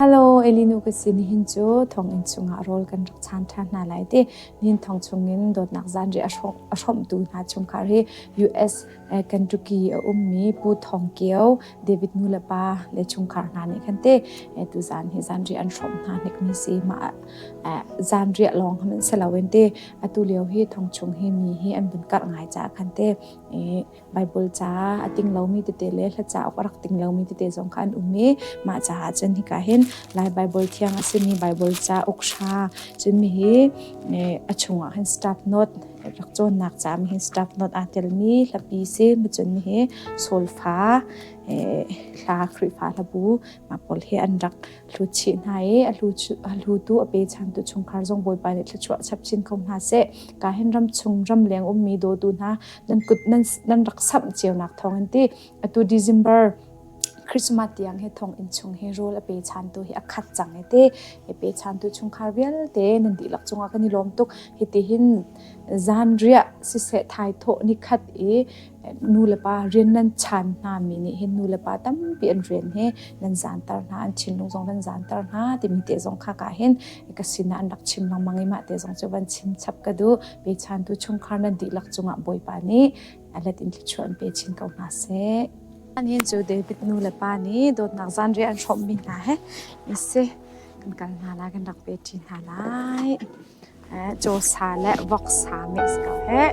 Hello, Elinu ka si nihin cu thonginn chungah rawl kan rak chan ṭhan hna lai ti. Nihin thong chungin dawtnak zanri a hrawmtu hna chungkhar hi US Kentucky a ummi Pu Thong Kio, David nulepa le chungkhar hna nih khan te tuzan hi zanri an hrawmh hna hnikmi si mah zanri lawng hmanh si loin ti atu lio hi thong chung hi mi hi an vun karh ngai caah khan te Baibal caah a ting lomi tete le hla cauk a rak ting lomi tete zong kha an um i mah caah cun hika hin Lai Baibal thiang a simi Baibal cauk hra cun mi hi a chungah hin staff note rak cawnnak caah mi hin staff note aa telmi hlapi si cun mi hi solfa hla Khrihfa hlabu mah pawl hi an rak hlu chih hna i a hlu tu a pe chantu chungkhar zong Bawipa nih thluachuah chap chin ko hna seh ka hin ram chung ram leng ummi dawtu hna nan kut nan nan rak samh cionak thawngin ti atu December Christmas tiang he thong in chung hi rul a pe chan tu hi a khat cang e te e pe chan tu chungkhar vialte nan dihlak chungah kan i lawm tuk hi ti hin zan ria si se thai tho ni khat i nu le pa rian nan chan hna mi nih hin nu le pa tampi an rian he nan zan tar hna an thinlung zong nan zan tar hna timi te zong kha ka hin ka sinah an rak chim lengmang i mah te zong cu van chim chap ka duh pechantu chungkhar nan dihlak cungah Bawipa nih a let in thluachuah an pe chin ko hna seh. Anin cu David nu le pa nih dawtnak zanriah an hrawmmi hna he isi kan kal hna lai kan rak pe ṭi hna lai. Cawsa le voksa mix ko heh.